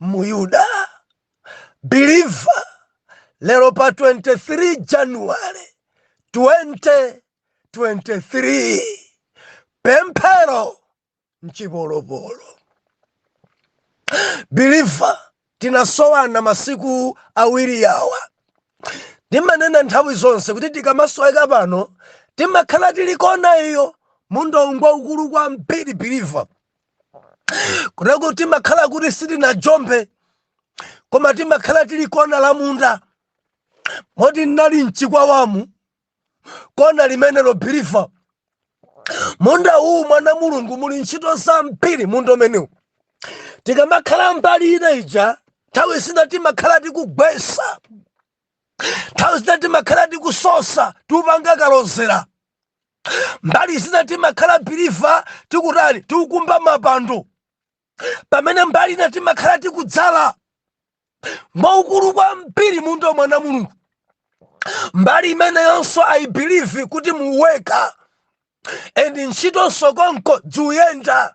mu Yuda. Believer, lero pa 23 January 2023 pemphero mchipolopolo. Believer, tinasowana masiku awiri yawa ndimanena nthawi zonse kuti tikamasoweka pano timakhala tili kona iyo mundawu ngwaukulu kwambiri believer kutereko timakhala kuti sitinajombe koma timakhala tili kona la munda moti ndinali mchikwawamu kona limenelo believer munda uwu mwana mulungu muli ntchito zambiri munda umenewu tikamakhala mbali ina ija nthawi zina timakhala tikugwesa nthawi zina timakhala tikusosa tiupanga kalozera mbali zina timakhala believer tikutani tikukumba mapando pamene mbali ina timakhala tikudzala ngwaukulu kwambiri munda wa mwana mulungu mbali imeneyonso i believe kuti muweka and ntchitonso konko zikuyenda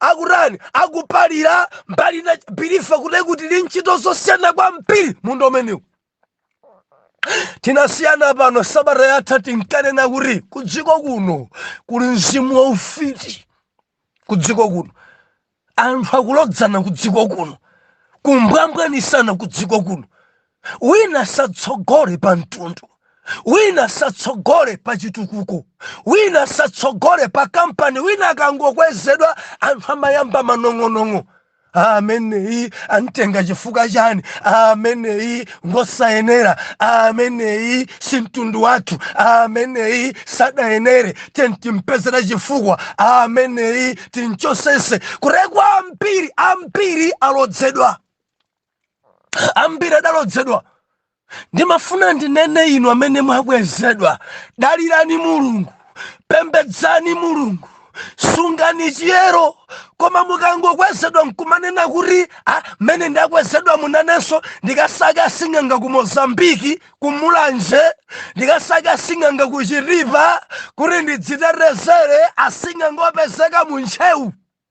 akutani akupalira mbali ina believer kuti kuti ndi ntchito zosiyana kwambiri munda umenewu tinasiyana pano sabata yatha tinkanena kuti kudziko kuno kuli mzimu wa ufiti kudziko kuno anthu akulodzana kudziko kuno kumbwambwanisana kudziko kuno wina asatsogole pa mtundu wina asatsogole pa chitukuko wina asatsogole pa kampani wina akangokwezedwa anthu amayamba manong'onong'o ameneyi amtenga chifukwa chani ameneyi ngosayenera ameneyi si mtundu wathu ameneyi sadayenere tiyeni timpezere chifukwa ameneyi timchotsetse kutereko ambiri ambiri alodzedwa ambiri adalodzedwa ndimafuna ndinene inu amene mwakwezedwa dalirani mulungu pembedzani mulungu sungani chiyero koma mukangokwezedwa nkumanena kuti ah, mmene ndakwezedwamu nanenso ndikasake asing'anga ku mozambiki ku mulanje ndikasake asing'anga ku chitipa kuti ndidzitetezere asing'anga opezeka mu ntcheu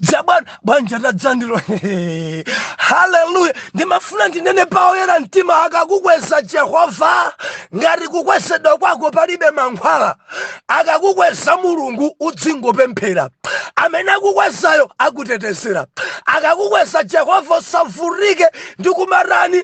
dzabwana banja la dzandilo haleluya ndimafuna ndinene paoyera mtima akakukweza jehova ngati kukwezedwa kwako palibe mankhwala akakukweza mulungu udzingopemphera amene akukwezayo akutetezera akakukweza jehova usavutike ndi kumatani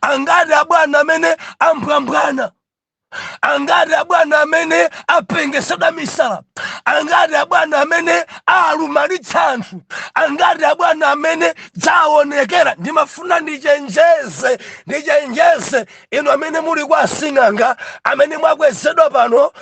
angati abwana amene ambwambwana angati abwana amene apengesedwa misala angati abwana amene alumalitsa anthu angati abwana amene dzaonekera ndimafuna ndichenjeze ndichenjeze inu amene muli kwa asing'anga amene mwakwezedwa pano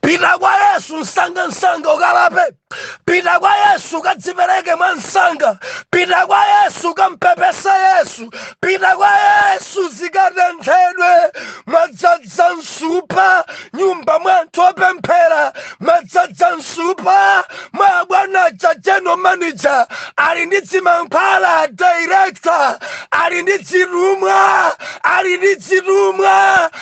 pita kwa yesu msanga msanga ukalape pita kwa yesu ukadzipereke mwa msanga pita kwa yesu ukampepese yesu pita kwa yesu zikatenthedwe mwadzadza msupa nyumba mwa anthu opemphera mwadzadza msupa mwa abwana cha general manager ali ndi dzimankhwala director ali ndi dzitumwa ali ndi dzitumwa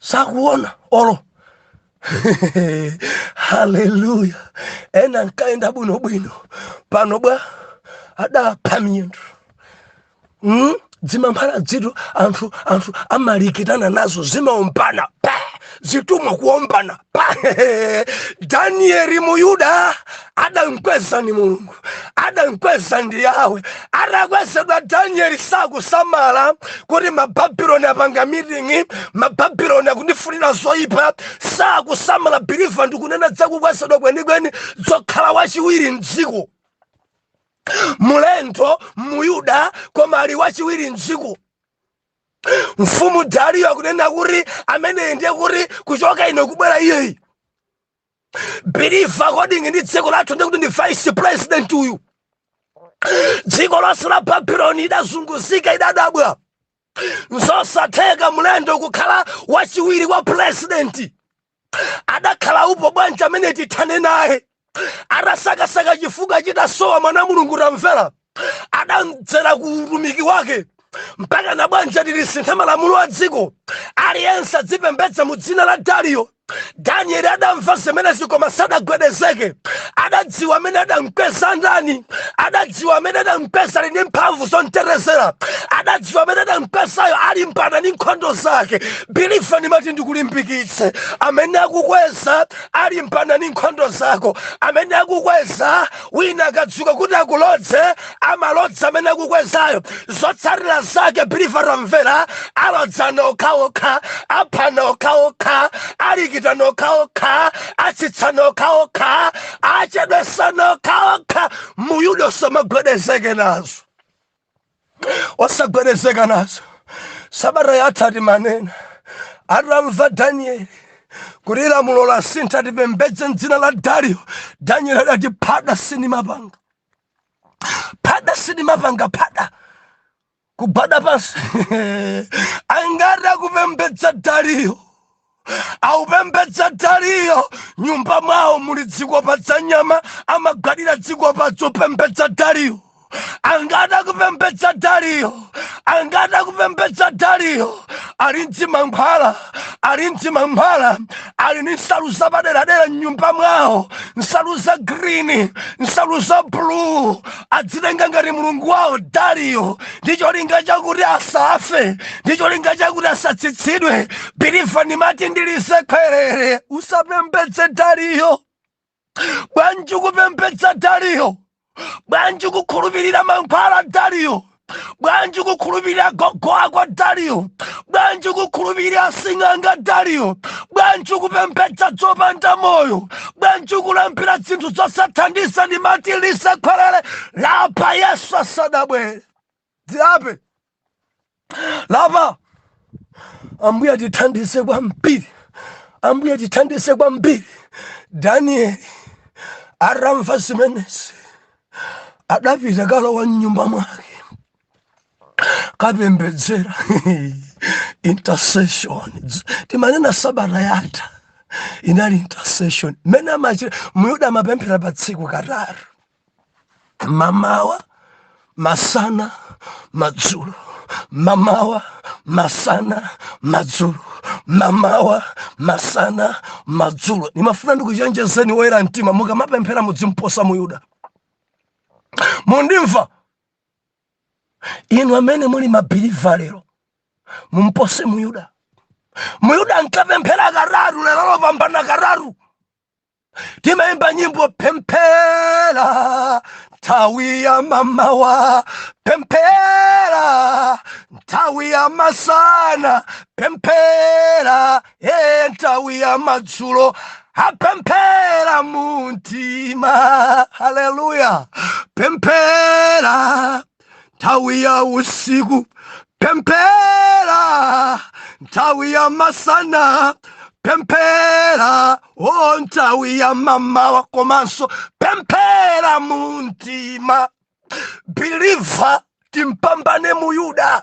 sakuona olo haleluya ena nkaenda bwino bwino pano bwa adapha miyendo mm? dzimankhwala dzitu anthu anthu amalikitana nazo zimaombana zitumwa kuombana danieli muyuda adamkweza ni mulungu adamkweza ndi yawe atakwezedwa danieli sakusamala kuti mababuloni apanga miting'i mababuloni akundifunira zoyipa sakusamala biliva ndikunena dzakukwezedwa kwenikweni dzokhala wachiwiri mdziko mlendo muyuda koma ali wachiwiri mdziko mfumu dariyo akunena kuti ameneyi ndiye kuti kuchoka ine kubwera iyeyi biliva according ndi dziko lathu ndiye kuti ndi vice president uyu dziko lonse la babuloni idazunguzika idadabwa nzosatheka mlendo kukhala wachiwiri kwa pulezidenti adakhala upo bwanji amene tithane naye adasakasaka chifukwa chidasowa mwana wa mulungu tamvera adamdzera ku utumiki wake mpaka na bwanji atitisintha malamulo a dziko aliyense adzipembedza mu dzina la dariyo danieli adamva zimenezi koma sadagwedezeke adadziwa amene adamkweza ndani adadziwa amene adamkweza ali ndi mphamvu zomterezera adadziwa amene adamkwezayo alimbana ndi nkhondo zake Biliva ndimati ndikulimbikitse amene akukweza alimbana ndi nkhondo zako amene akukweza wina akadzuka kuti akulodze amalodza amene akukwezayo zotsatira zake biliva tamvera alodzana okhaokha aphana okhaokha alikitana okhaokha atsitsana okhaokha achedwesana okhaokha muyuda osamagwedezeke nazo osagwedezeka nazo sabata yatha timanena atamva danieli kuti lamulo lasintha tipembedze mdzina la dariyo danieli adati phada sindimapanga phada sindimapanga phada kugwada pansi angati akupembedza dariyo akupembedza dariyo nyumba mwawo muli dzikopa dza nyama amagwadira dzikopa dzopembedza dariyo angati akupembedza dariyo angati akupembedza dariyo ali ndzimankhwala ali ndzimankhwala ali ni nsalu zapaderadera mnyumba mwawo nsalu za green nsalu za blue adzitenga ngati mulungu wawo dariyo ndi cholinga chakuti asafe ndi cholinga chakuti asatsitsidwe biliva ndimati ndilize khwerere usapembedze dariyo bwanji kupembedza dariyo bwanji kukhulupirira mankhwala dariyo bwanji kukhulupirira gogo ako dariyo bwanji kukhulupirira sing'anga dariyo bwanji kupembedza zopanda moyo bwanji kulambira zinthu zosathandiza ndimati lisakhwerere lapa yesu asadabwere zilape lapa ambuye tithandize kwambiri ambuye tithandize kwambiri danieli atamva zimenezi adapita kalowa mnyumba mwake kapembedzera intercession timanena sabata yatha inali intercession mmene amachita muyuda amapemphera pa tsiku katatu mamawa masana madzulo mamawa masana madzulo mamawa masana madzulo ndimafuna ndikuchenjezeni woyera mtima mukamapemphera mudzimposa muyuda mundimva inu amene muli mabiliva lero mumpose muyuda muyuda ankapemphera katatu lero lopambana katatu timaimba nyimbo pemphera nthawi ya mamawa pemphera nthawi ya masana pemphera e nthawi ya madzulo apemphera mu mtima haleluya pemphera nthawi ya usiku pemphera nthawi ya masana pemphera o nthawi ya mamawa komanso pemphera mu mtima biliva timpambane muyuda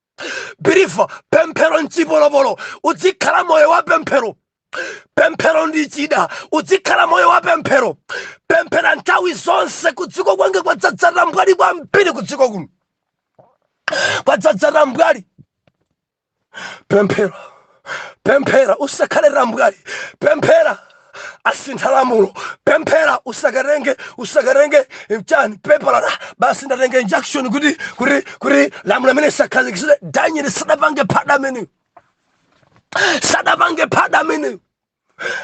believe pemphero mchipolopolo udzikhala moyo wa pemphero pemphero ndi chida udzikhala moyo wa pemphero pemphera nthawi zonse kudziko kwange kwadzadzata mbwali kwambiri kudziko kuno kwadzadzata mbwali pemphero pemphera usakhale tambwali pemphera asintha lamulo pemphera usakatenge usakatenge chani pepala basi ndatenge injunction kuti kuti kuti lamulo limene lisakhazikitsidwe daniel sadapange phada ameneyo sadapange phada ameneyo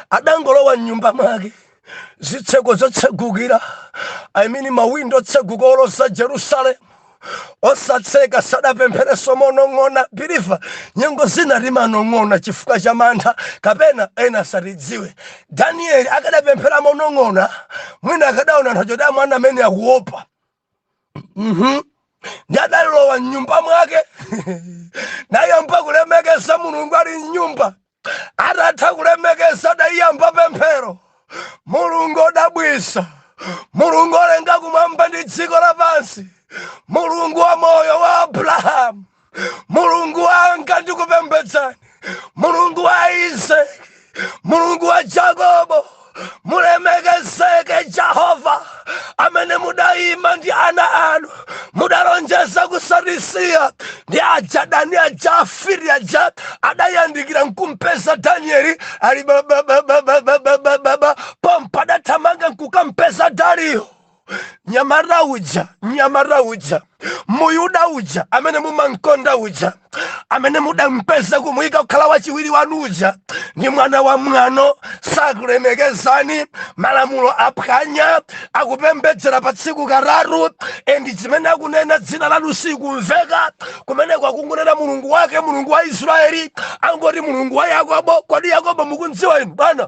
adangolowa mnyumba mwake zitseko zotsegukira i mean mawindo otseguka oloza jerusalemu osatseka sadapempherenso monong'ona believer nyengo zina timanong'ona chifukwa cha mantha kapena ena asatidziwe danieli akadapemphera monong'ona mwina akadaona nthawi yoti amuona amene akuopa Mhm. ndi adalowa mnyumba mwake nayamba kulemekeza mulungu ali mnyumba Atatha kulemekeza adayamba pemphero, Mulungu odabwisa, Mulungu olenga kumwamba ndi dziko lapansi, Mulungu wa moyo wa Abrahamu, Mulungu wanga ndikupembedzani, Mulungu wa Isake, Mulungu wa Jakobo. mulemekezeke jehova amene mudayima ndi ana anu mudalonjeza kusatisiya ndi adani aja afiti aja adayandikira nkumpeza danieli ali babababababababa pompa adathamanga nkukampeza dariyo mnyamata uja mnyamata uja muyuda uja amene mumamkonda uja amene mudampeza kumuyika kukhala wachiwiri wanu uja ndi mwana wa mwano sakulemekezani malamulo aphwanya akupembedzera pa tsiku katatu endi chimene akunena dzina lanu silikumveka kumeneko akungonena mulungu wake mulungu wa israeli angoti mulungu wa yakobo kodi yakobo mukumdziwa inu bwana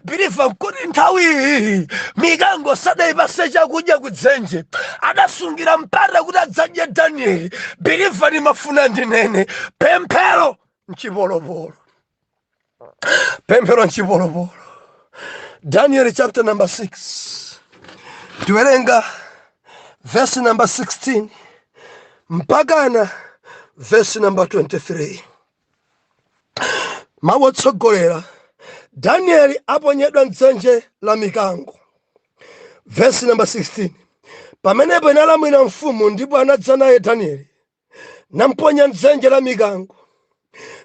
biliva kuti nthawi iyi mikango sadayipase chakudya kudzenje adasungira mpata kuti adzadye danieli biliva ndimafuna ndinene pemphero mchipolopolo pemphero mchipolopolo daniel chapter number 6 tiwerenga verse number 16 mpakana verse number 23 mawu otsogolera danieli aponyedwa mdzenje la mikango vesi namba 16 pamenepo inalamulira mfumu ndipo anadza naye danieli namponya mdzenje la mikango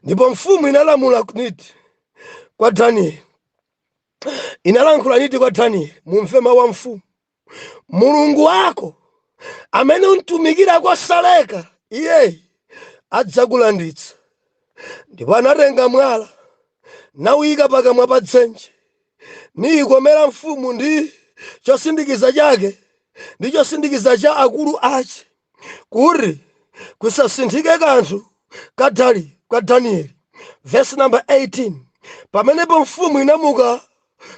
ndipo mfumu inalamula niti kwa danieli inalankhula niti kwa danieli mumve mawu a mfumu mulungu wako amene umtumikira kosaleka iyeyi adzakulanditsa ndipo anatenga mwala nawuyika pakamwa pa dzenje niyikomera mfumu ndi chosindikiza chake ndi chosindikiza cha akulu ache kuti kusasinthike kanthu ka dali kwa danieli vesi namba 18 pamenepo mfumu inamuka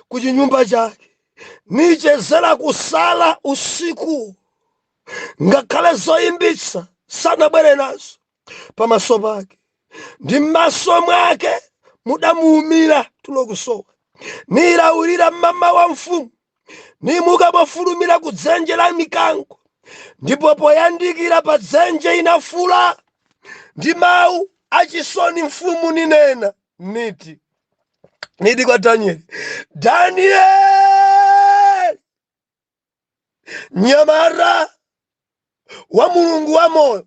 ku chinyumba chake nichezera kusala usikuwo ngakhale zoyimbitsa sanabwere nazo pamaso pake ndi m'maso mwake mudamuumira tulo kusowa nilawirira m'mamawa mfumu nimuka mofulumira ku dzenje la mikango ndipo poyandikira pa dzenje inafuula ndi mawu achisoni mfumu ninena niti niti kwa danieli danieli mnyamata wa mulungu wa moyo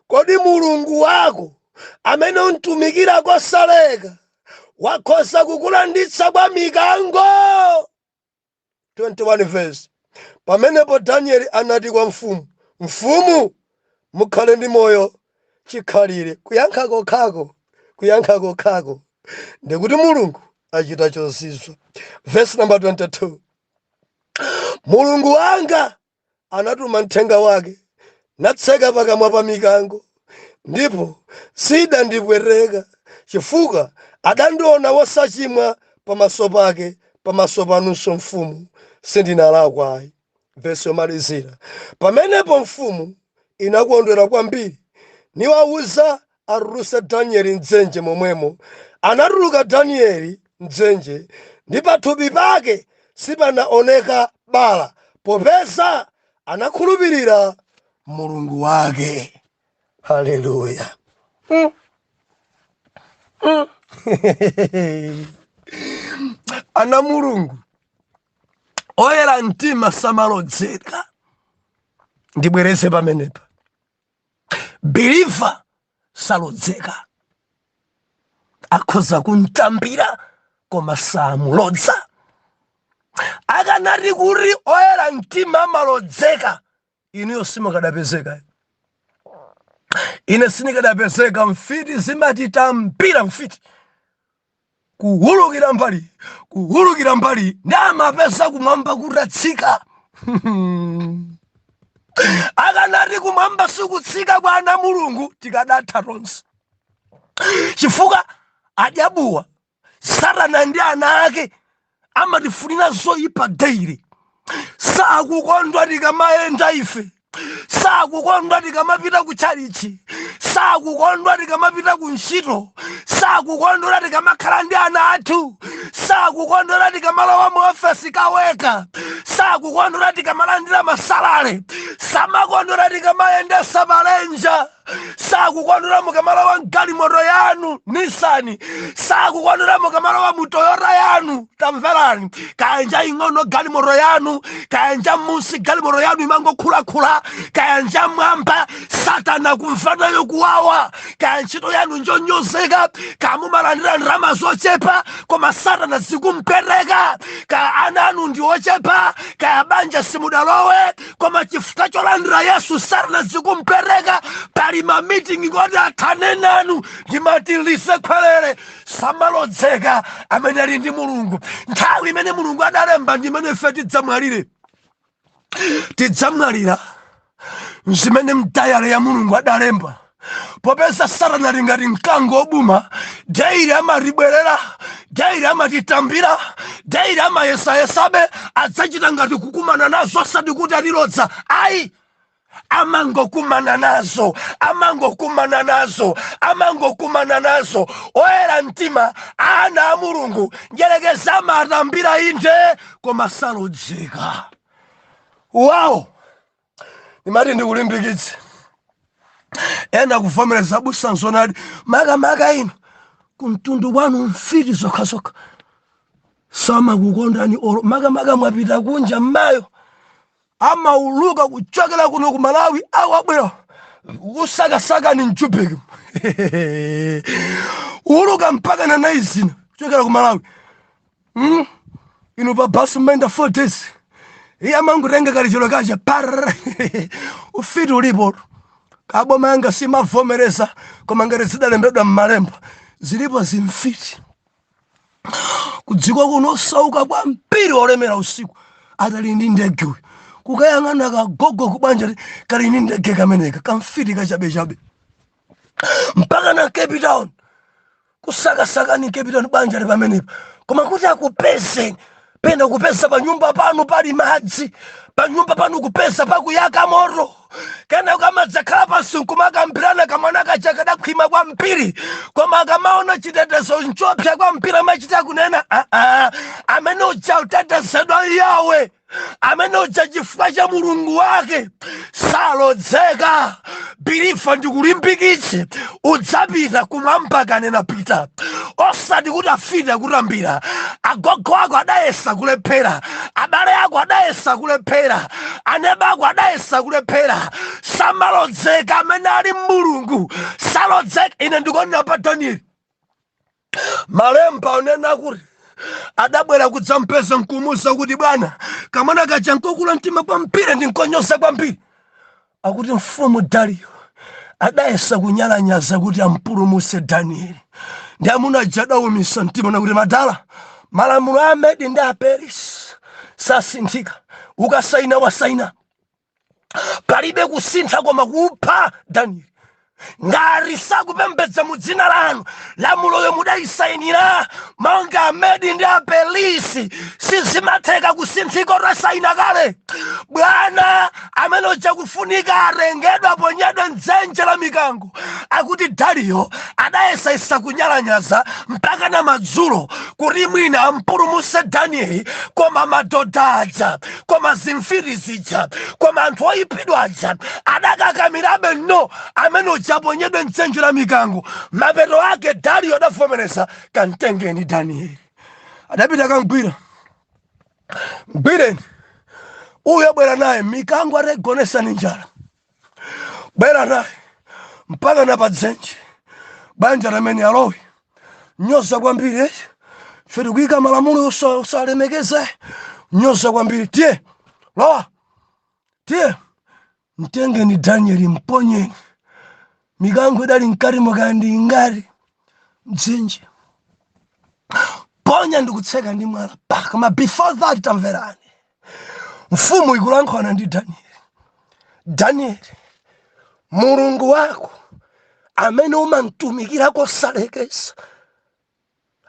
kodi mulungu wako amene umtumikira kosaleka wakhoza kukulanditsa kwa mikango vesi 21. Pamenepo Danieli anati kwa mfumu, Mfumu, mukhale ndi moyo chikhalire. Kuyankha kokhako, kuyankha kokhako ndi kuti Mulungu achita chozizwa. Vesi namba 22. Mulungu wanga anatuma mthenga wake, natseka pakamwa pa mikango, ndipo siinandipweteka, chifukwa adandiona wosachimwa pamaso pake, pamaso panunso mfumu, sindinalakwa ayi. Vesi yomalizira Pamenepo mfumu inakondwera kwambiri, niwauza Atulutse Danieli m'dzenje momwemo, anatuluka Danieli m'dzenje, ndi pathupi pake sipanaoneka bala, popeza anakhulupirira Mulungu wake. Haleluya! Mm. Mm. Ana a Mulungu oyera mtima samalodzeka. Ndibwereze pamenepa. believer salodzeka akhoza kumtambira koma samulodza akanati kuti oyera mtima amalodzeka inuyo simukadapezeka ine sinikadapezeka mfiti zimatitambira mfiti kuwulukira mbali kuwulukira mbali ndiye amapeza kumwamba kutatsika akanati kumwamba sikutsika kwa ana a mulungu tikadatha tonse chifukwa adyabuwa satana ndi ana ake amatifunira zoyipa daily sakukondwa tikamayenda ife sakukondwa tikamapita ku tchalitchi sakukondwa tikamapita ku ntchito sakukondwa tikamakhala ndi ana athu sakukondwa tikamalowa mu ofesi kaweka sakukondwa tikamalandira masalale samakondwa tikamayendetsa malenja sakukondwera mukamalowa mgalimoto yanu ni satana sakukondwera mukamalowa mutoyota yanu tamverani kaya nja ing'ono galimoto yanu kaya nja munsi galimoto yanu imangokhulakhula kaya nja mwamba satana kumvanayo kuwawa kaya ntchito yanu njonyozeka kaya mumalandira ndalama zochepa koma satana zikumpweteka kaya ana anu ndi ochepa kaya banja simudalowe koma chifukwa cholandira yesu satana zikumpweteka pali mamitingi oti athane nanu ndimati nisekwelere samalodzeka amene ali ndi mulungu nthawi imene mulungu adalemba ndimene ife tidzamwalire tidzamwalira zimene m'diary ya mulungu adalemba popeza satana ali ngati mkango obangula daily amatibwerera daily amatitambira daily amayesayesabe adzachita ngati kukumana nazo osati kuti alilodza ayi amangokumana nazo amangokumana nazo amangokumana nazo oyera mtima ana a mulungu mdyerekezi amatambira inde koma salodzeka awo ndimati ndikulimbikitse ena kuvomereza abusa nzonadi makamaka inu kumtundu kwanu mfiti zokhazokha samakukondani olo makamaka mwapita kunja mmayo amauluka kuchokera kuno ku malawi kubwera kukusakasakani m'Joburg kuuluka mpaka na Lenasia kuchokera ku malawi Mm. Inu pa bus mmaenda 4 days. Iye amangotenga kalichero kacha phaa. Ufiti ulipo. Kaboma yanga simavomereza koma ngati zidalembedwa m'malemba zilipo zinthuzi. Kudziko kuno osauka kwambiri olemera usiku ali ndi ndege uyu. Kukayang'ana kagogo kubanjako kali ndi ndege kameneka kamfiti kachabechabe. mpaka na cape town kusakasakani cape town banja lili pamenepa koma kuti akupezeni pena kupeza panyumba panu pali madzi panyumba panu kupeza pakuyaka moto kenaka ukamadzakhala pansi nkumakambirana kamwana kaja kadakhwima kwambiri koma akamaona chitetezo nchopsa kwambiri amachita kunena "Ah, ah, amene uja ngotetezedwa ndi yawe amene uja chifukwa cha mulungu wake salodzeka believer ndikulimbikitse udzapita kumwamba akanena pita osati kuti mfiti ikutambira agogo ako adayesa kulephera abale ako adayesa kulephera aneba ako adayesa kulephera samalodzeka amene ali mulungu salodzeka ine ndikuonera pa danieli malemba akunena kuti adabwera kudzampeza nkumuza kuti bwana kamwana kaja nkokula mtima kwambiri ndi nkonyoza kwambiri akuti mfumu dariyo adayesa kunyalanyaza kuti ampulumutse danieli ndi amuna aja adawumisa mtima nakuti madala malamulo a amedi ndi aperisi sasinthika ukasaina wasaina palibe kusintha koma kupha danieli ngati sakupembedza mu dzina lanu lamuloyo mudayisayinira monga amedi ndi apelisi sizimatheka kusinthika mutasayina kale bwana amene uja kufunika atengedwe aponyedwe mdzenje la mikango akuti dariyo adayesayesa kunyalanyaza mpaka na madzulo kuti mwina ampulumutse danieli koma madoda aja koma zimfiti zija koma anthu oyipidwa aja adakakamirabe no amene uja aponyedwe mdzenje la mikango mapeto ake dariyo adavomereza kamtengeni danieli adapita kamgwira mgwireni uyo bwera naye mikango ataigonetsa ni njala bwera naye mpaka na padzenje panja amene alowe nyoza kwambiri eh? ife tikuyika malamulo osa- osalemekeza eh? nyoza kwambiri tiye lowa tiye mtengeni danieli mponyeni mikango idali mkati mwake ndi ngati mdzenje mponya ndikutseka ndi mwala apa koma before that tamverani mfumu ikulankhulana ndi danieli danieli mulungu wako amene umamtumikira kosalekeza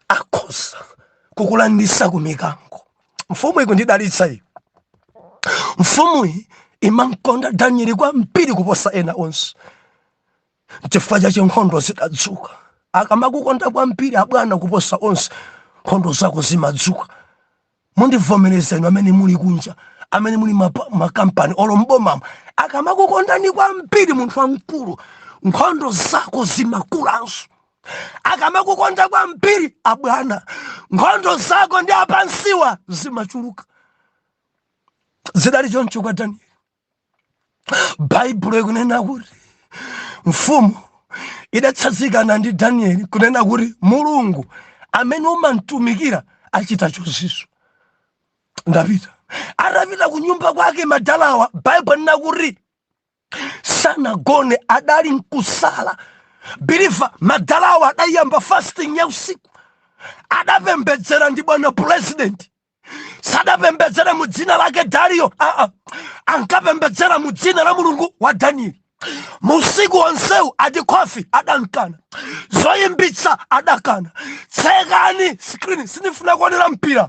akhoza kukulanditsa ku mikango mfumu ikumudalitsa iyi mfumuyi imamkonda danieli kwambiri kuposa ena onse chifukwa chache nkhondo zidadzuka akamakukonda kwambiri abwana kuposa onse nkhondo zako zimadzuka Mundivomereza inu amene muli kunja, amene muli makampani olo m'bomamo, akamakukondani kwambiri munthu wamkulu, nkhondo zako zimakulanso. Akamakukonda kwambiri abwana, nkhondo zako ndi apansiwa zimachuluka. Zidali choncho kwa Danieli. baibulo ikunena kuti mfumu idatsanzikana ndi danieli kunena kuti mulungu amene umamtumikira achita chozizwitsa ndapita atapita ku nyumba kwake madalawa baibulo ikunena kuti sanagone adali nkusala believer madalawa adayamba fasting ya usiku adapembedzera ndi bwana pulezidenti sadapembedzere mu dzina lake dariyo aa ankapembedzera mu dzina la mulungu wa danieli musiku wonsewu ati khofi adankana zoyimbitsa adakana tsekani screen sindifuna kuonera mpira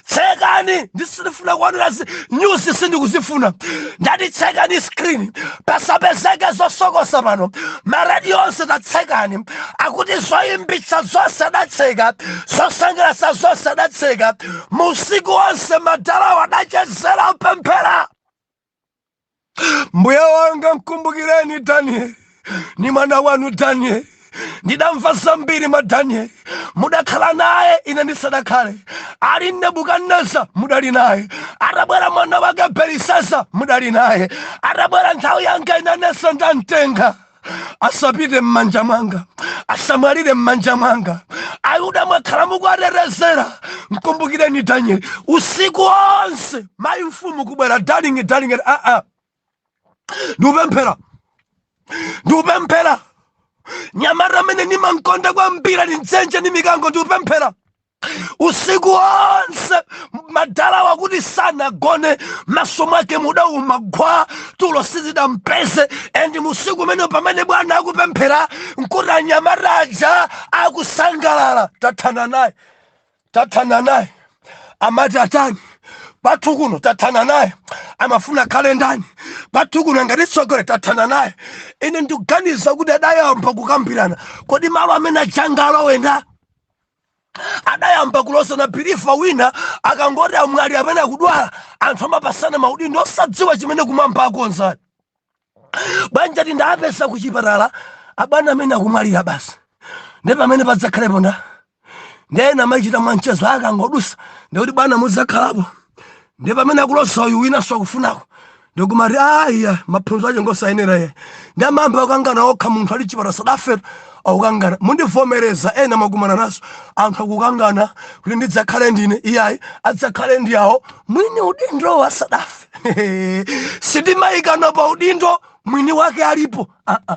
tsekani ndi sindifuna kuonera nyuzi sindikuzifuna ndati tsekani screen pasapezeke zosokosa pano marediyo onse tatsekani akuti zoyimbitsa zonse adatseka zosangalatsa zonse adatseka musiku wonse madalawo adachezera kupemphera mbuye wanga mkumbukireni danieli ni mwana wanu danieli ndidamva zambiri mwa danieli mudakhala naye ine ndisadakhale ali nebukadineza mudali naye atabwera mwana wake belisesa mudali naye atabwera nthawi yanga inenso ndamtenga asapite m'manja mwanga asamwalire m'manja mwanga ayuda mwakhala mukuwatetezera mkumbukireni danieli usiku wonse mayi mfumu kubwera darling darling aa ah, ah. ndikupemphera ndikupemphera nyamata amene ndimankonda kwambiri ali mdzenje ndi mikango ndikupemphera usiku wonse madalawa akuti sanagone maso mwake mudauma gwa tulo sizidampeze and musiku umene pamene bwana akupemphera nkuti anyamata aja akusangalala tathana naye tathana naye amati atani pathu kuno tathana naye amafuna akhale ndani pathu kuno ngati tsogole tathana naye ine ndikuganiza kuti adayamba kukambirana kodi malo amene aja angalowe nda adayamba kulozana believer wina akangoti amwalira amene akudwala anthu amapatsana maudindo osadziwa chimene kumwamba akonza bwanji ati ndawapeza ku chipatala abwana amene akumwalira basi ndi pamene padzakhalepo nda ndiye ena amachita mwanchezo akangodutsa ndikuti bwana mudzakhalapo ndiye pamene akuloza uyu winanso akufunako ndikumati aiya maphunziro ache ngosayenera iye ndi amayamba kukangana okha munthu ali chipatala asadafe akukangana mundivomereza ena mwakumana nazo anthu akukangana kuti ndidzakhale ndine iyayi adzakhale ndi awo mwini udindowo asadafe sitimayikana pa udindo mwini wake alipo ah -ah.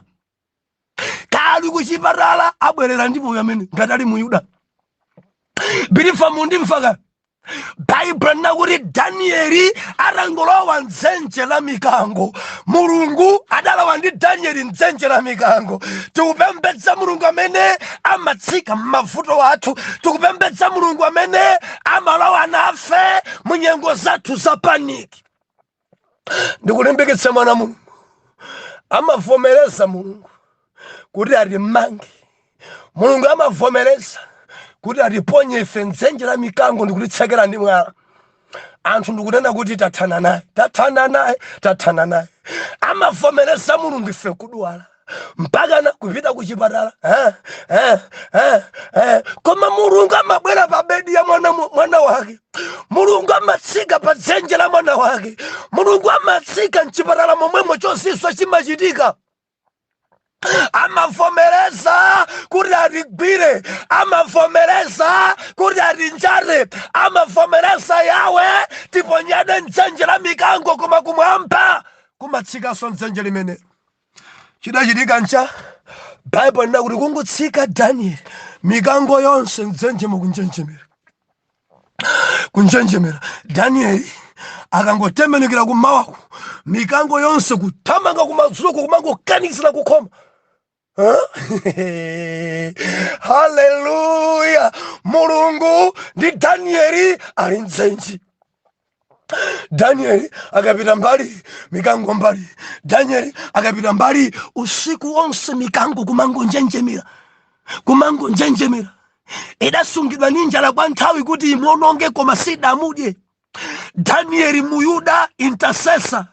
kaya ali kuchipatala abwerera ndi moyo amene ngati ali muyuda believer mundimvaka baibulo linena kuti danieli atangolowa mdzenje la mikango mulungu adalowa ndi danieli mdzenje la mikango tikupembedza mulungu amene amatsika m'mavuto athu tikupembedza mulungu amene amalowa nafe mu nyengo zathu za panic ndikulimbikitse mwana wa mulungu amavomereza mulungu kuti atimange mulungu amavomereza kuti atiponye ife mdzenje la mikango ndikutitsekera ndi mwala anthu ndikunena kuti tathana naye tathana naye tathana naye amavomereza mulungu ife kudwala mpakana kupita kuchipatala koma mulungu amabwera pa bedi ya mwana wake mulungu amatsika pa dzenje la mwana wake mulungu amatsika mchipatala momwemo chozizwitsa chimachitika amavomereza kuti atigwire amavomereza kuti atinjate amavomereza yawe tiponyeredwe mdzenje la mikango koma kumwamba kumatsikanso mdzenje limenelo chidachitika ncha baibulo linena kuti kungotsika danieli mikango yonse mdzenjemo kunjenjemera kunjenjemera danieli akangotembenukira kumawaku mikango yonse kuthamanga kumadzulo kumangokanikizira kukhoma haleluya mulungu ndi danieli ali mdzenje Danieli akapita mbali mikango mbali, Danieli akapita mbali usiku wonse mikango kumangonjenjemera, kumangonjenjemera. Idasungidwa ndi njala kwa nthawi kuti imuononge, koma sidamudye. Danieli Muyuda intercessor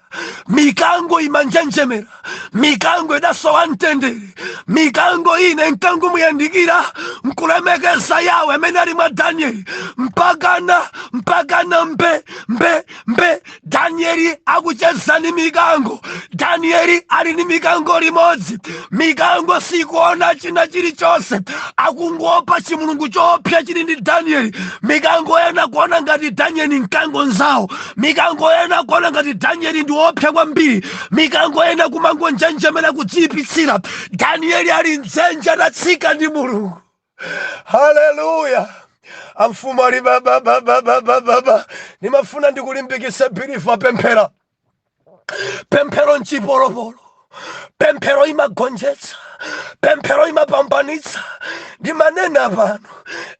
mikango imanjenjemera mikango idasowa mtendere mikango ina nkungomuyandikira nkulemekeza yawe amene ali mwa danieli mpakana mpakana mbembembe danieli akucheza ni mikango danieli ali ni mikango limodzi mikango sikuona china chilichonse akungoopa chimulungu choopsa chili ndi danieli mikango ina kuona ngati danieli mkango nzawo mikango ina kuona ngati danieli ndi woopsa kwambiri mikango ina kumangonjenjemera kudziyipitsira danieli ali mdzenje adatsika ndi mulungu haleluya amfumu ali bababababababa ndimafuna ndikulimbikitse believer pemphera pemphero nchipolopolo pemphero imagonjetsa pemphero imapambanitsa ndimanena pano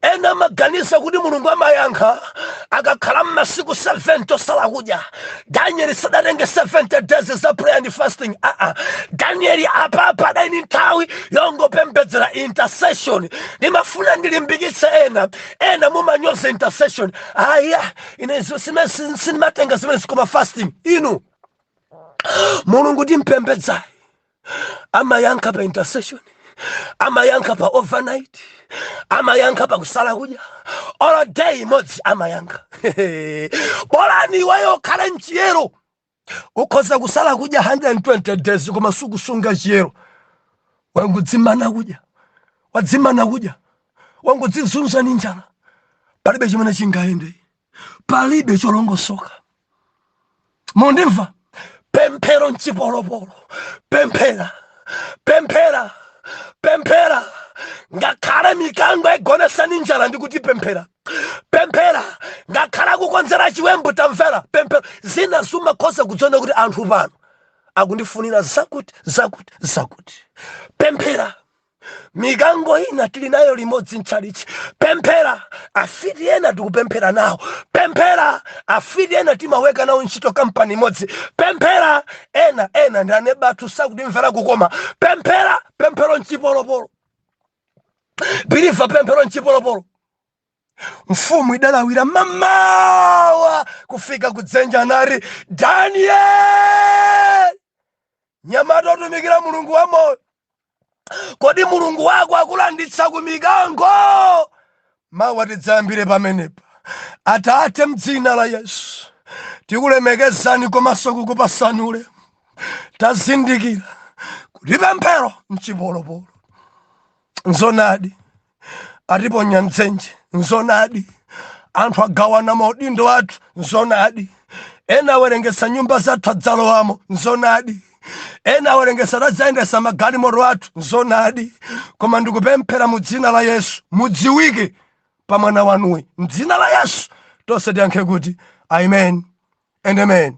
ena amaganiza kuti mulungu amayankha akakhala mmasiku 70 osala kudya danieli sadatenge 70 days za prayer and fasting aa danieli apapa adali ni nthawi yongopembedzera intercession ndimafuna ndilimbikitse ena ena mumanyoza intercession aya ine izo sindimatenga zimenezi koma fasting inu mulungu timpembedzayi amayankha pa intercession amayankha pa overnight amayankha pa kusala kudya olo day imodzi amayankha bolani iweyo ukhale mchiyero ukhoza kusala kudya 120 days koma sukusunga chiyero wangodzimana kudya wadzimana kudya wangodzizunza ni njala palibe chimene chingayende palibe cholongosoka mundimva pemphero nchipolopolo pemphera pemphera pemphera ngakhale mikango igonesani njala ndikuti pemphera pemphera ngakhale akukonzera chiwembu tamvera pemphero zina umakhoza kudziona kuti anthu pano akundifunira zakuti zakuti zakuti pemphera mikango ina tili nayo limodzi mtchalitchi pemphera afiti ena tikupemphera nawo pemphera afiti ena timaweka nawo ntchito kampani imodzi pemphera ena ena ndi aneba athu sakutimvera kukoma pemphera pemphero nchipolopolo biliva pemphero nchipolopolo mfumu idalawira mamawa kufika kudzenje nati danieli mnyamata otumikira mulungu wa moyo kodi mulungu wako akulanditsa ku mikango Mawa tidzayambire pamenepa. Atate mdzina la Yesu tikulemekezani komanso kukupasani ulemu. Tazindikira kuti pemphero nchipolopolo. Nzonadi atiponya mdzenje. Nzonadi anthu agawana maudindo athu. Nzonadi ena awerengetsa nyumba zathu adzalowamo. Nzonadi ena awerengesa adzayendesa magalimoto athu nzonadi koma ndikupemphera mu dzina la yesu mudziwike pa mwana wanuyi mdzina la yesu tonse tiyankhe kuti amen and amen